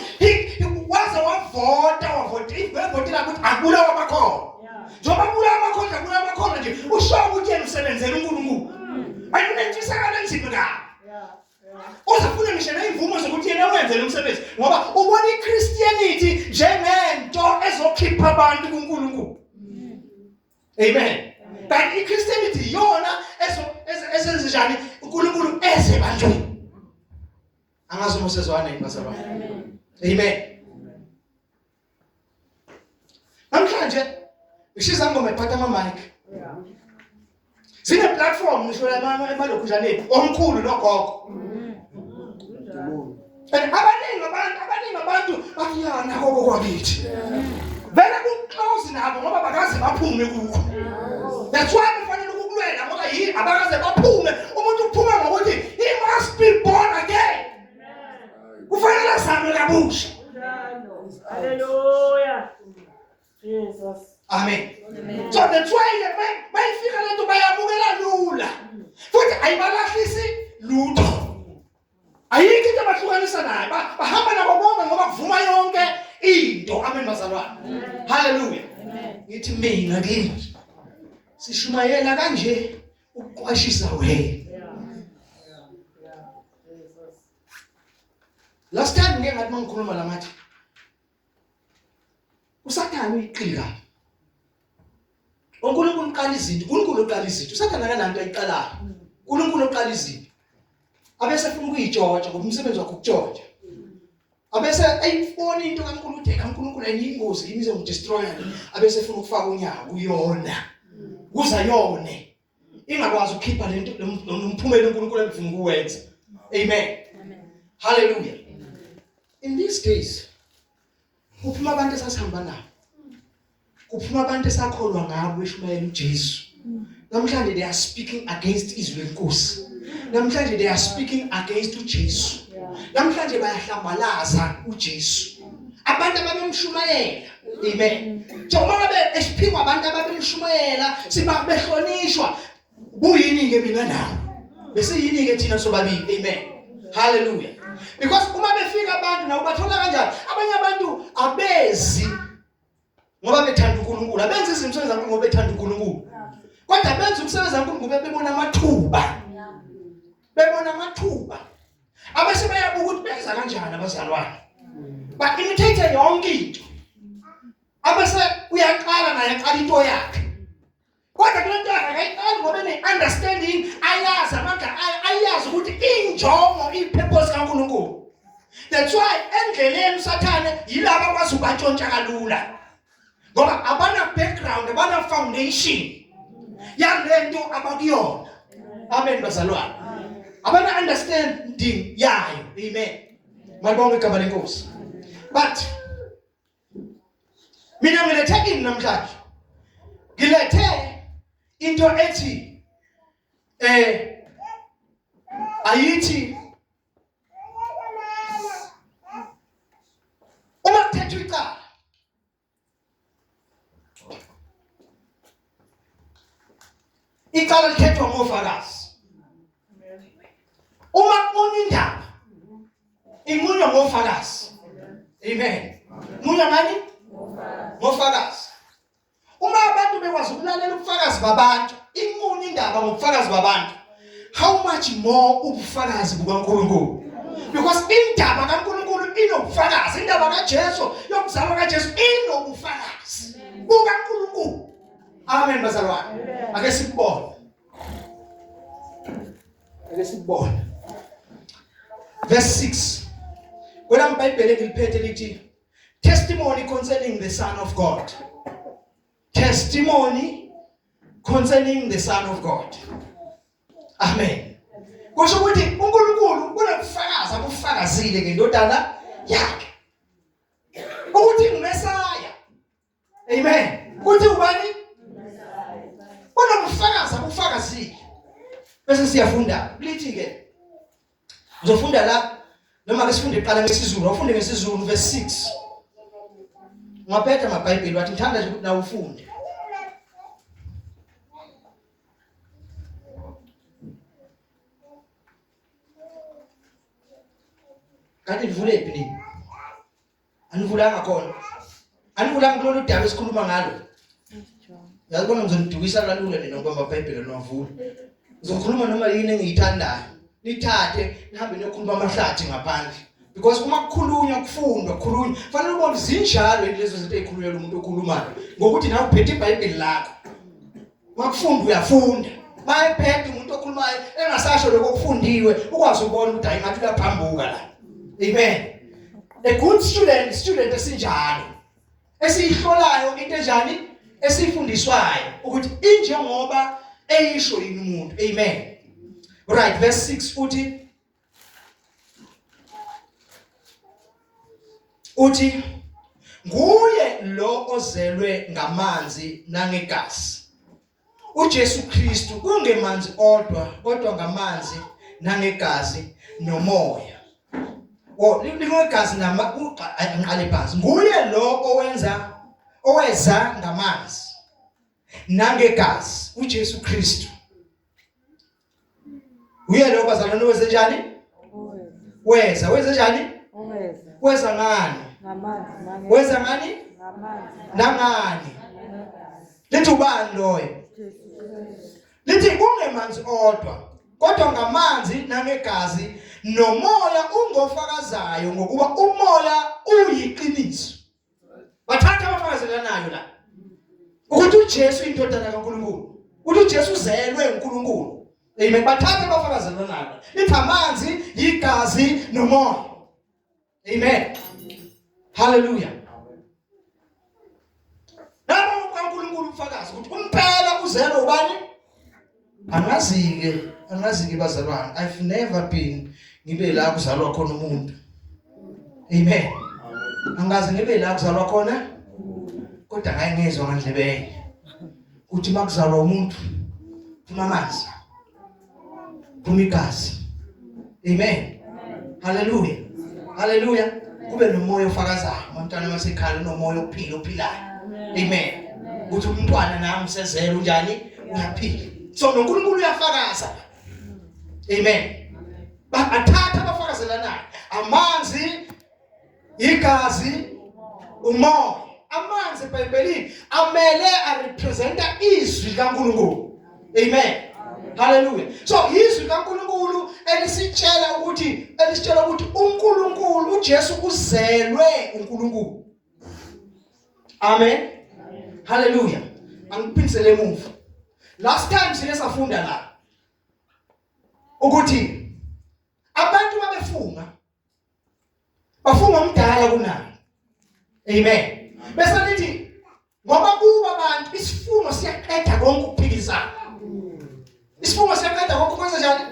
waze wavota wavota ivotile ukuthi akulawa amakhono njengoba kulawa amakhono akulawa amakhono nje usho ukuthi yena usebenzela uNkulunkulu hmm. ayinentshisekelo enzima kabi uzafuna ngisho ney'mvumo zokuthi yena wenze lo msebenzi ngoba ubona ichristianity njengento ezokhipha abantu kunkulunkulu Amen. But iChristianity yona esenzenjani uNkulunkulu eze ebantwini. Angazi uma usezwana yini bazalwa. Amen. Amen. Namhlanje ngishisa ngoma ephatha ama mic. Yeah. sine platform ngisho lamama emalokhujaneni omkhulu nogogo and abaningi abantu abaningi abantu bathi ya nako kokwakithi vele kuclose nabo ngoba bakaze baphume kukho that's why kufanele ukukulwela ngoba yini abakaze baphume umuntu uphuma ngokuthi he must be born again kufanele azame kabusha haleluya
Jesus. Amen.
Amen. So that's why bayifika lento bayabukela lula. Futhi ayibalahlisi lutho. Ayikho into abahlukanisa nayo. Bahamba nabo bonke ngoba kuvuma yonke into. Amen bazalwane. Hallelujah. Ngithi mina kimi sishumayela kanje ukuqwashisa wena. Last time ngeke ngathi mangikhuluma la ngathi usathane uyiqinga uNkulunkulu uqala izinto uNkulunkulu uqala izinto usathane akananto ayiqalayo uNkulunkulu uqala izinto abese efuna ukuyitshotsha ngoba umsebenzi wakhe ukutshontsha abese ayifona into kaNkulunkulu uthe kaNkulunkulu ayingozi kimi izongidestroya abese efuna ukufaka unyawo kuyona kuza yone ingakwazi ukukhipha lento nomphumela uNkulunkulu emfuna ukuwenza amen amen haleluya in these days kuphuma abantu esasihamba nabo kuphuma abantu esakholwa ngabo eshumayela uJesu namhlanje they are speaking against izwi lenkosi namhlanje they are speaking against uJesu namhlanje bayahlambalaza uJesu abantu ababemshumayela Amen. Njengoba ngabe esiphikwa abantu ababemshumayela sibabehlonishwa kuyini ke mina nawe? Bese yini ke thina sobabili? Amen. Hallelujah. Because uma befika abantu nawo bathola kanjani? Abanye abantu abezi ngoba bethanda uNkulunkulu. Abenza izinto zabo ngoba bethanda uNkulunkulu. Kodwa benza ukusebenza uNkulunkulu bebona amathuba. bebona amathuba abese bayabuka ukuthi benza kanjani abazalwane ba imitate yonke into abese uyaqala naye aqala into yakhe kodwa kule nto yakhe akayiqali ngoba ne-understanding ayazi amandla ayo ayazi ukuthi injongo iyipurpose kankulunkulu that's why endleleni usathane yilaba kwazi ubatshontsha kalula ngoba abana background abana foundation yale nto abakuyona amen bazalwane abana understanding yayo amen malibonke igama lenkosi but mina ngilethe kini namhlanje ngilethe into ethi eh ayithi uma kuthethwa icala icala lithethwa ngofakazi uma kukhona indaba inqunywa ngofakazi amen munya ngani ngofakazi uma abantu bekwazi ukulalela ubufakazi babantu inkulu indaba ngobufakazi babantu how much more ubufakazi bukaNkulunkulu because indaba kaNkulunkulu inobufakazi indaba kaJesu yokuzalwa kaJesu inobufakazi bukaNkulunkulu amen bazalwane ake sikubone ake sikubone verse 6 kwela mbhayibheli engiliphethe lithi Testimony concerning the Son of God. Testimony concerning the Son of God. Amen. Kusho ukuthi uNkulunkulu unokufakaza kufakazile ngendodana yakhe. Ukuthi ngumesaya amen kuthi ubani kodwa kufakaza kufakazile bese siyafunda kulithi ke uzofunda la noma ke sifunde iqala ngesizulu ufunde ngesizulu verse 6 ngaphetha amabhayibheli wathi ngithanda nje ukuthi nawe ufunde kanti livule phi anivulanga khona anivulanga kulolu daba esikhuluma ngalo yabona ngizonidukisa kalula nina ngoba amabhayibheli anivula ngizokhuluma noma yini engiyithandayo nithathe nihambe niyokhuluma amahlathi ngaphandle because uma kukhulunywa kufundwa kukhulunywa fanele ubone zinjalo lezo zinto ezikhulunywa umuntu okhulumayo ngokuthi nawe uphethe ibhayibheli lakho wakufunda uyafunda bayephethe umuntu okhulumayo engasasho lokho kufundiwe ukwazi ukubona ukuthi hayi ngathi uyaphambuka la amen a good student student esinjalo esiyihlolayo into enjani esifundiswayo ukuthi injengoba eyisho yini umuntu amen right verse 6 uthi uthi nguye lo ozelwe ngamanzi nangegazi uJesu Kristu kungemanzi odwa kodwa ngamanzi nangegazi nomoya o lingegazi nama ngiqale phansi nguye lo owenza oweza ngamanzi nangegazi uJesu Kristu uye lo bazalwane wenze njani weza wenze njani weza ngani weza ngani nangani lithi ubani loyo lithi kungemanzi odwa kodwa ngamanzi nangegazi nomoya ungofakazayo ngokuba umoya uyiqiniso Bathatha abafakazi lanayo la. Ukuthi uJesu indodana kaNkulunkulu. Ukuthi uJesu uzelwe uNkulunkulu. Amen. Bathatha abafakazi lanayo. Lithi amanzi, igazi nomoya. Amen. Hallelujah. Nabo uNkulunkulu ufakazi ukuthi umpela uzelwe ubani? Angazi-ke, angazi-ke bazalwane. I've never been ngibe la kuzalwa khona umuntu. Amen. Angazi ngibe la kuzalwa khona kodwa ngaye ngezwe ngandlebeye. Uthi makuzalwa umuntu phuma amanzi. Phuma igazi. Amen. Haleluya. Haleluya. Kube nomoya ofakazayo. Umntwana masekhala unomoya ophila ophilayo. Amen. Ukuthi umntwana nami usezela unjani? Uyaphila. So noNkulunkulu uyafakaza. Amen. Bathatha abafakazelanayo. Amanzi igazi umoya amanzi ebhayibhelini amele arepresenta izwi kaNkulunkulu amen haleluya so izwi kaNkulunkulu elisitshela ukuthi elisitshela ukuthi uNkulunkulu uJesu uzelwe uNkulunkulu amen haleluya angiphindisele emuva last time sike safunda la ukuthi abantu babefunga bafunga umdala kunayo amen bese lithi ngoba kuba abantu isifungo siyaqeda konke ukuphikisana isifungo siyaqeda konke ukwenza njani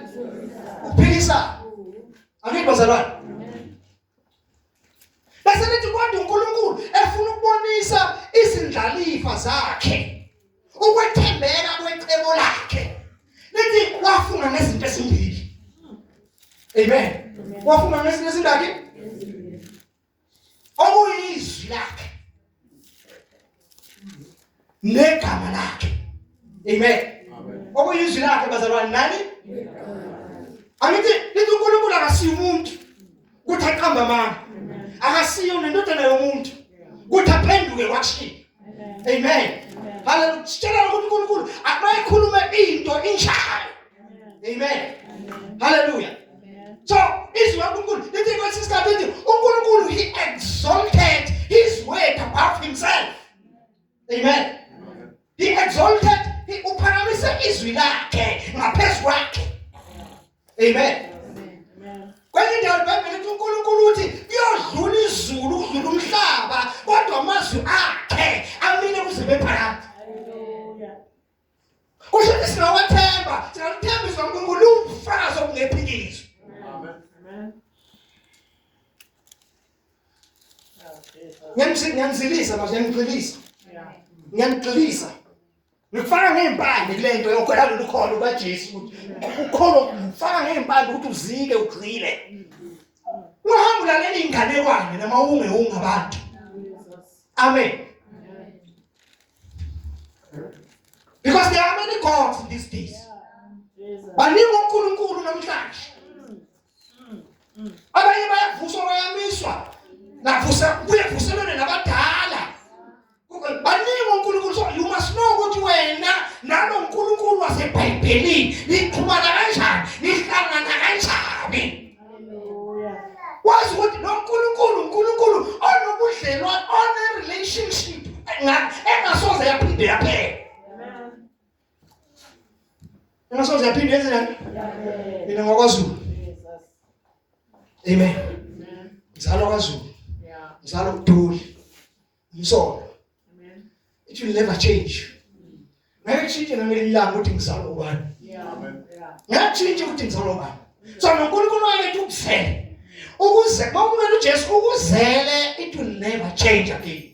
ukuphikisana angithi bazalwane bese lithi kodwa uNkulunkulu efuna ukubonisa izindlalifa zakhe ukwethembeka kwecebo lakhe lithi wafunga ngezinto ezimbili amen wafunga ngezinto ezingaki okuyizwi lakhe negama lakhe amen okuyizwi lakhe bazalwane nani angithi lithi uNkulunkulu akasiyi umuntu kuthi aqamba amanga akasiyo nendodana yomuntu kuthi aphenduke kwashiya amen haleluya sitshela ukuthi uNkulunkulu akayikhulume into injalo amen haleluya so izwi laNkulunkulu lithi kwesinye isikhathi lithi uNkulunkulu he exalted his word above himself amen he exalted uphakamise izwi lakhe ngaphezu kwakhe Amen. Amen. Kwenye indawo iBhayibheli lithi uNkulunkulu uthi kuyodlula izulu ukudlula umhlaba kodwa amazwi akhe amile kuze bephakade. Haleluya. Kusho ukuthi singawathemba, singaluthembisa uNkulunkulu ubufakazi obungephikiswa. Amen. Amen. Ngiyamzilisa manje ngiyamgxilisa. Ngiyamgxilisa. ngikufaka ngey'mpande kule nto yokugwela lolu kholo lukajesu ukuthi ukholo ngifaka ngey'mpande ukuthi uzike ugxile uhambe ulalele iy'nganekwane noma ungewunga abantu amen because there are many gods in these days baningi onkulunkulu namhlanje abanye bayavuswa bayamiswa navusa kuye vuselwene nabadala baningi uNkulunkulu so you must know ukuthi wena nalo uNkulunkulu wasebhayibhelini niqhumana kanjani nihlangana kanjani wazi ukuthi lo nkulunkulu unkulunkulu onobudlelwane one-relationship engasoze yaphinde yaphela Ingasoze yaphinde yenze njani? Mina ngokwaZulu. Amen. Mzalo kwaZulu. Mzalo kuduli. Umsolo. Amen. It will never change. Ngeke kushintshe nangelilanga ukuthi ngizalo ubani. Amen. Ngeke kushintshe ukuthi ngizalo ubani. So noNkulunkulu waletha ukuzela. Ukuze bawumela uJesu ukuzele it will never change again.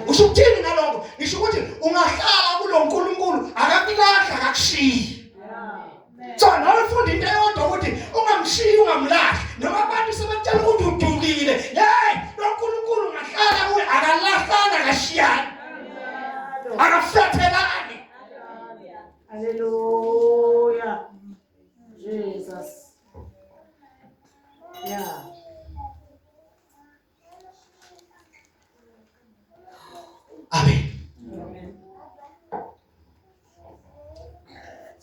usho ukuthini ngaloko ngisho ukuthi ungahlala kulo nkulunkulu akakulahla akakushiyi so nawe funda into eyodwa ukuthi ungamshiyi ungamlahli noma abantu sebakutshela ukuthi udukile yeyi lo nkulunkulu ungahlala kuye akalahlana akashiyani akafethelani haleluya
jesus Yeah.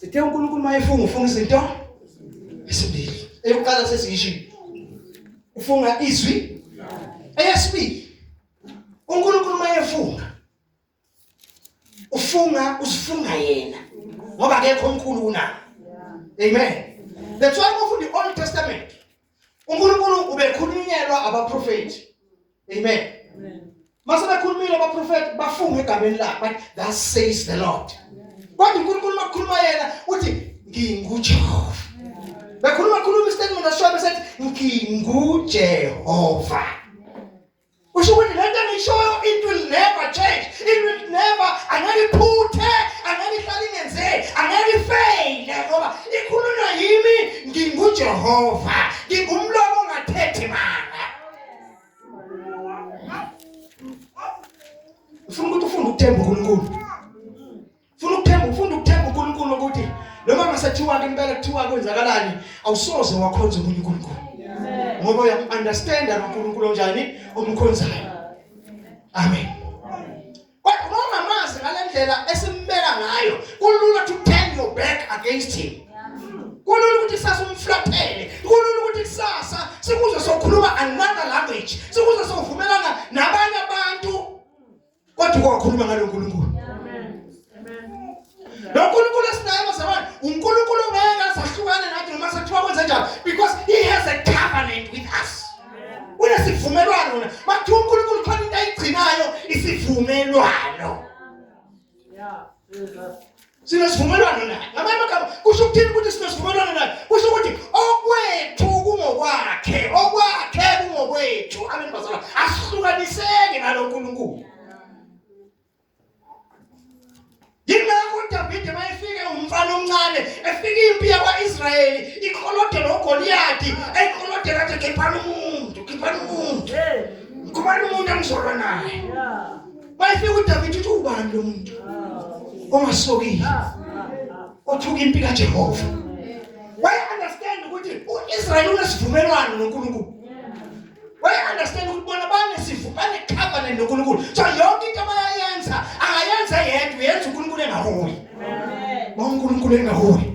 sithe uNkulunkulu mayefunga ufunga izinto esibili eyokuqala sesiyishilo ufunga izwi eyesibili uNkulunkulu mayefunga ufunga usifunga yena ngoba akekho omkhulu kunaye amen that's why ufunda i-old testament unkulunkulu ubekhulunyelwa abaprofethi amen mase bekhulumile abaprofethi bafunga egameni lakhe but that says the lord kodwa unkulunkulu makukhuluma yena uthi ngingujehova bekhuluma khuluma istatement ashobe sethi ngingujehova Usho ukuthi lento engishoyo it will never change. It will never angeke iphuthe, angeke ihlale ingenzeki, angeke ifeyile ngoba ikhulunywa yimi nginguJehova. Ngingumlomo ongathethi manga. Ufuna ukuthi ufunde ukuthemba uNkulunkulu. Funa ukuthemba, ufunda ukuthemba uNkulunkulu ukuthi noma ngasathiwa ke impela kuthiwa kwenzakalani, awusoze wakhonza umunye uNkulunkulu. Ngoba uyamunderstand uNkulunkulu onjani omkhonzayo. Amen. Kodwa noma mazi ngalendlela esimbeka ngayo, kulula to turn your back against him. Kulula ukuthi sasa umflathele, kulula ukuthi kusasa sikuze sokhuluma another language, sikuze sovumelana nabanye abantu Kodwa kwakhuluma ngalo Nkulunkulu. Amen. Amen. Lo Nkulunkulu esinaye bazalwane, uNkulunkulu ongeke asahlukane nathi noma sekuthiwa kwenze njani because he has a covenant with us. Unesivumelwano wena. Mathi uNkulunkulu khona into ayigcinayo isivumelwano.
Yeah. sinesivumelwano
naye ngamanye amagama kusho ukuthini ukuthi sinesivumelwano naye kusho ukuthi okwethu kungokwakhe okwakhe kungokwethu amen bazala asihlukaniseki nalo nkulunkulu yingakho udavide uma efike umfana omncane efike impi yakwa-israyeli ikholode nogoliyadi eyikolode kade khiphani umuntu khiphani umuntu khubani umuntu angizolwa naye
bayefika uDavid
uthi ubani lo muntu ongasokile othuka impi kaJehova why understand ukuthi uIsrael unesivumelwano noNkulunkulu why understand ukuthi bona banesivumelwano covenant noNkulunkulu so yonke into abayenza akayenza yedwa yenza uNkulunkulu engaholi bonke uNkulunkulu engaholi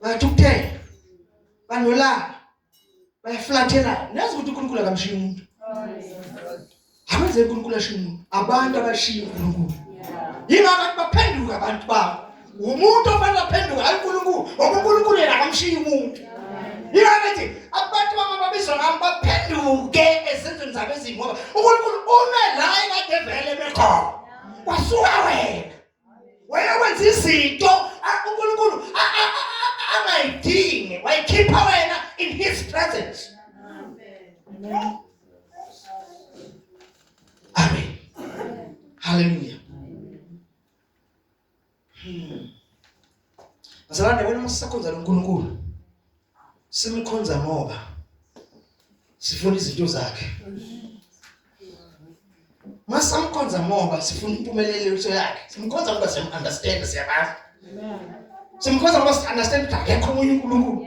bayathukuthela banolaka bayaflathela nazi ukuthi uNkulunkulu akamshiyi umuntu abenze uNkulunkulu ashiye umuntu abantu abashiya uNkulunkulu yingakho abantu baphenduka abantu babo umuntu ofanele aphenduke hayi uNkulunkulu ngoba uNkulunkulu yena akamshiyi umuntu yingakho ethi abantu bama babizwa ngami baphenduke ezenzweni zabo ezimbi ngoba uNkulunkulu ume la ekade vele bekhona kwasuka wena wayewenza izinto uNkulunkulu angayidingi wayikhipha wena in his presence amen amen haleluya hmm. Bazalwane wena uma sisakhonza loNkulunkulu simkhonza ngoba sifuna izinto zakhe. Masamkhonza ngoba sifuna impumelelo yakhe. Simkhonza ngoba siyam understand siyabazi. Amen.
Simkhonza ngoba
si understand ukuthi akekho omunye uNkulunkulu.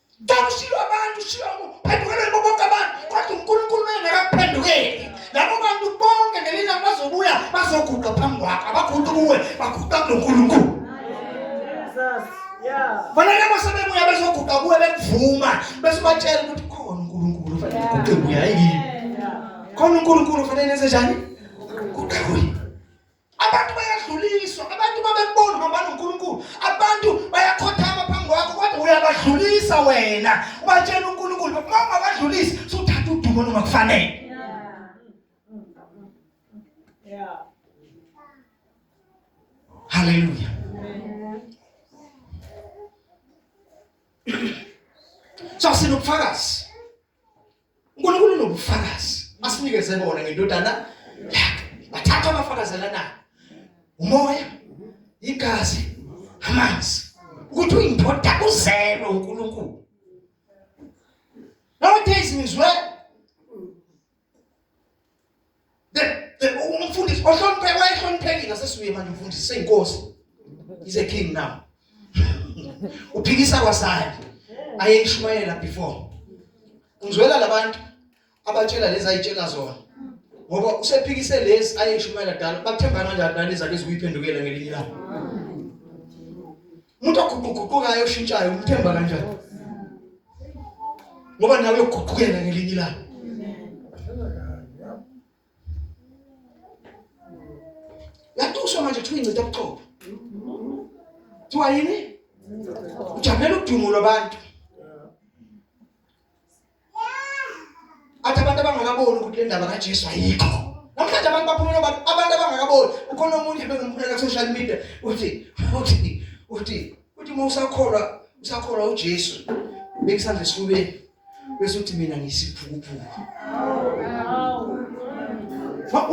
Ngikushilo abantu shilo phendukela kubo bonke abantu kodwa uNkulunkulu engakaphendukeli labo bantu bonke ngelina bazobuya bazoguqa phambi kwakhe abaguqi kuwe baguqa kuNkulunkulu
Bona labo sebebuya
bezoguqa kuwe bekuvuma bese batshela ukuthi khona uNkulunkulu fanele kuguqe kuya yini khona uNkulunkulu fanele enze njani kuguqe kuye Abantu bayadluliswa, abantu babekubona uhamba noNkulunkulu. Abantu bayakhothama phambi kwakho kodwa uyabadlulisa wena. Ubatshela uNkulunkulu, uma ungabadlulisi, suthatha udumo noma kufanele.
Yeah.
Hallelujah. Só se não falasse. uNkulunkulu unobufakazi asinikeze bona ngendodana yakhe bathatha abafakazelana umoya igazi amanzi ukuthi uyindoda kuzelwe uNkulunkulu nowadays ngizwe umfundisi ohlonipheke wayehloniphekile asesibuye manje umfundisi seyinkosi is a king now uphikisa kwasani ayeyishumayela before ngizwela labantu abatshela lezi ayitshela zona ngoba usephikise lezi ayeyishumayela dala bathemba kanjani nalezi ake zikuyiphendukela ngelinye ilanga umuntu oguquguqukayo oshintshayo umthemba kanjani ngoba nawe uguqukela ngelinye ilanga yatusho manje kuthiwa incitha ubuqobo kuthiwa yini ujabela udumo lwabantu athi abantu abangakaboni ukuthi le ndaba kaJesu ayikho namhlanje abantu baphumela abantu abantu abangakaboni ukhona omunye bengimphumela ku social media uthi uthi uthi uthi uma usakholwa usakholwa uJesu bekusandla esifubeni bese uthi mina ngisiphukuphuku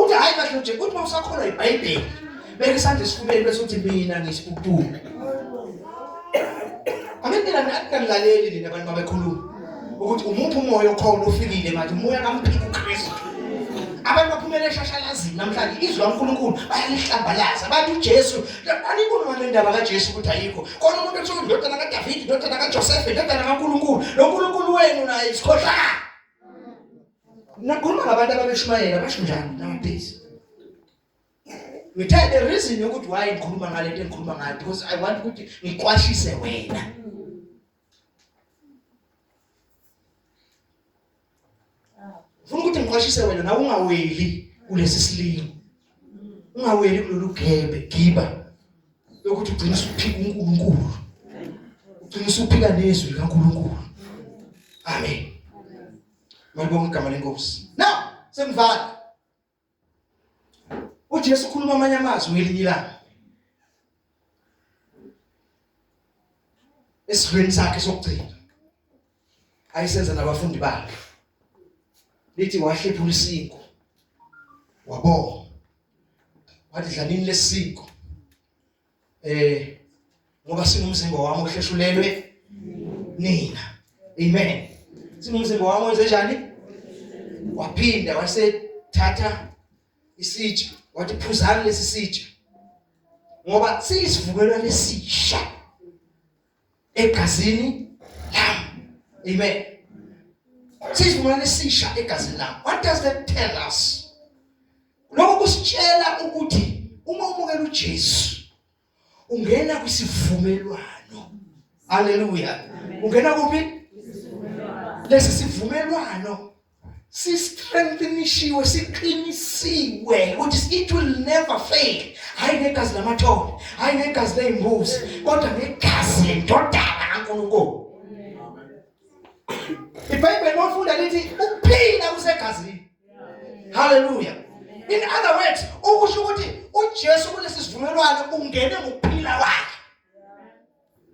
uthi hayi kahle nje uthi uma usakholwa iBhayibheli Beka isandla esifubeni bese uthi mina ngisibubuku. Angendela nakulaleli nina abantu babekhuluma ukuthi umuphi umoya okhona ufikile manje umoya kamphika uKristu. Abantu baphumele eshashalazini namhlanje izwi laNkulunkulu bayalihlambalaza. Bathi uJesu, aniboni ngale ndaba kaJesu ukuthi ayikho. Khona umuntu othola indodana kaDavid, indodana kaJoseph, indodana kaNkulunkulu. Lo Nkulunkulu wenu naye isikhohlakala. Nakhuluma ngabantu ababeshumayela basho njani nowadays? ngithe the reason yokuthi why ngikhuluma ngale nto engikhuluma ngayo because i want ukuthi ngiqwashise wena funa ukuthi ngiqwashise wena nawe ungaweli kulesi silingo ungaweli kulolu gebe giba yokuthi ugcine usuphika uNkulunkulu ugcine usuphika nezwi likaNkulunkulu amen malibonga igama lenkosi now sengivala uJesu ukhuluma amanye amazwi ngelinye ilanga esidlweni sakhe sokugcina ayisenza nabafundi bakhe lithi wahlephula isiko wabonga wathi dlanini lesiko eh ngoba singumzimba wami ohlehlulelwe nina amen singumzimba wami wenze njani waphinda wasethatha isitsha wathi phuzani lesi sitsha ngoba siyisivukelwa lesisha egazini lam amen sisivumelwano esisha egazini lam what does that tell us lokho kusitshela ukuthi uma umukela uJesu ungena kwisivumelwano haleluya ungena kuphi lesi sivumelwano sistrengthenishiwe siqinisiwe ukuthi it will never fail hayi negazi lamathole hayi negazi leyimbuzi kodwa negazi lendodana kaNkulunkulu iBhayibheli lofunda lithi ukuphila kusegazini haleluya in other words ukusho ukuthi uJesu kulesi sivumelwano ungene ngokuphila kwakhe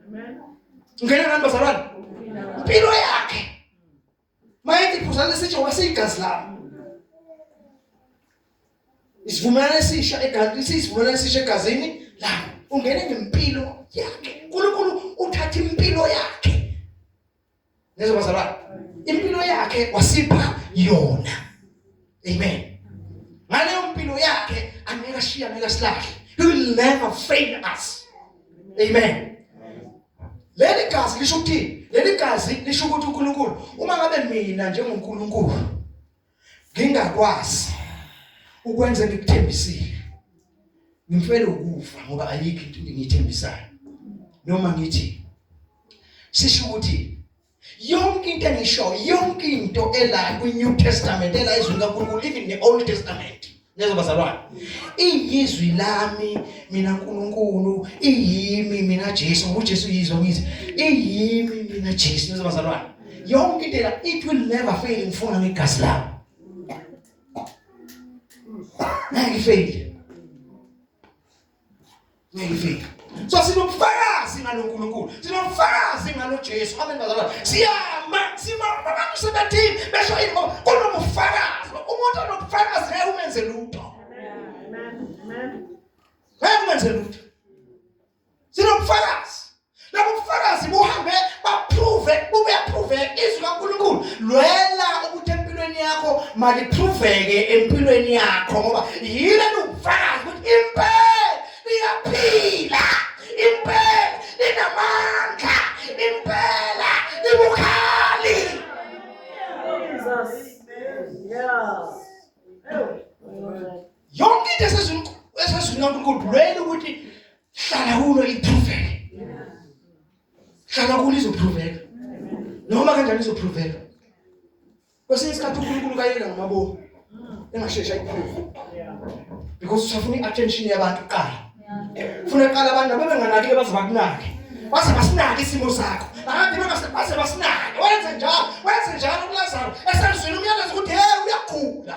amen
ungene
ngani bazalwane impilo yakhe Mayethi iphuzane sitsho ngoba siyigazi lami. Isivumelwano esisha egazini, isivumelwano esisha egazini lami. Ungene ngempilo yakhe. uNkulunkulu uthatha impilo yakhe. Nezobazalwane. Impilo yakhe wasipha yona. Amen. Ngaleyo mpilo yakhe angeke ashiya ngeke silahle. He will never fail us. Amen. Leli gazi lisho ukuthi leli gazi lisho ukuthi uNkulunkulu uma ngabe mina njengoNkulunkulu ngingakwazi ukwenza ngikuthembisile ngimfele ukufa ngoba ayikho into engiyithembisayo noma ngithi sisho ukuthi yonke into engisho yonke into ela kwi-new testament ela izwi likankulunkulu even ne-old testament nezwa bazalwane iyizwi lami mina nkulunkulu iyimi mina jesu ngoba ujesu yizwa ngithi iyimi mina jesu nezwa bazalwane yonke into ela it will never fail ngifuna ngegazi lami ngeke ifeyile ngiyifika so sinobufakazi ngalo Nkulunkulu sinobufakazi ngalo Jesu amen bazalwane siyama simama abantu sebathini besho yini ngoba kunobufakazi umuntu onobufakazi ngeke umenze lutho amen amen ngeke umenze lutho sinobufakazi Labo bufakazi buhambe baprove bube approve izwi kaNkulunkulu. Lwela ukuthi empilweni yakho maliproveke empilweni yakho ngoba yile ubufakazi ukuthi impela liyaphila. Impela linamandla. Impela libukhali. Jesus.
Yeah.
Yonke into esezwini esezwini kaNkulunkulu lwela ukuthi hlala kulo ipruveke hlala kulo izopruveka noma kanjani izopruveka kwesinye isikhathi unkulunkulu kayeka ngamabomu engasheshi ayiphruve because usafuna i-attention yabantu kuqala funa qala abantu abebenganakile baze bakunake baze basinake isimo sakho bahambe baze basinake wenze njalo wenze njalo kulazaro esenzwini umyalezo ukuthi hey uyagula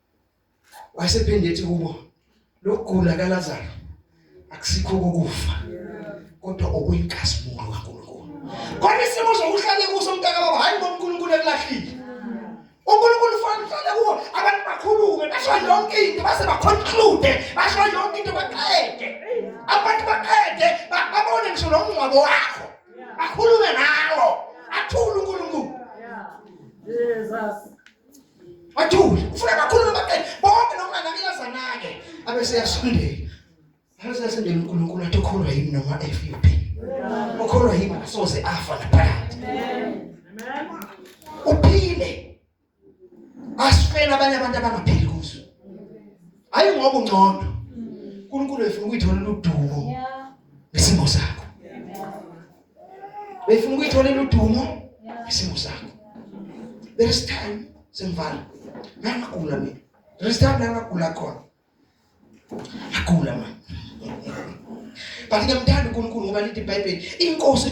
wasephinde
ethi kubo lokugula kaLazaro akusikho ukufa kodwa okuyinkazimulo kaNkulunkulu kodwa isimo sokuhlale kuso umntaka baba hayi ngoNkulunkulu ekulahlile uNkulunkulu ufana uhlale kuwo abantu bakhulume basho yonke into base baconclude basho yonke into baqede abantu baqede babone ngisho nomngcwabo wakho bakhulume nawo athule uNkulunkulu Jesus Wathula. Ufuna kakhulu nabaqede. Bonke nokunganakile azanake. Abese yasondela. Abese yasondela uNkulunkulu athi ukholwa yimi noma FUP. Ukholwa yimi asoze afa naphakade.
Amen. Uphile.
Asifela abanye abantu abangaphili kuzo. Hayi ngoba ungcono. uNkulunkulu efuna ukuyithola udumo. Yeah. Ngesimo sakho. beyifuna ukuyitholela udumo isimo sakho there is time sengivana ngangagula mina there is time ngangagula khona ngagula manje but ngiyamthanda uNkulunkulu ngoba lithi iBhayibheli inkosi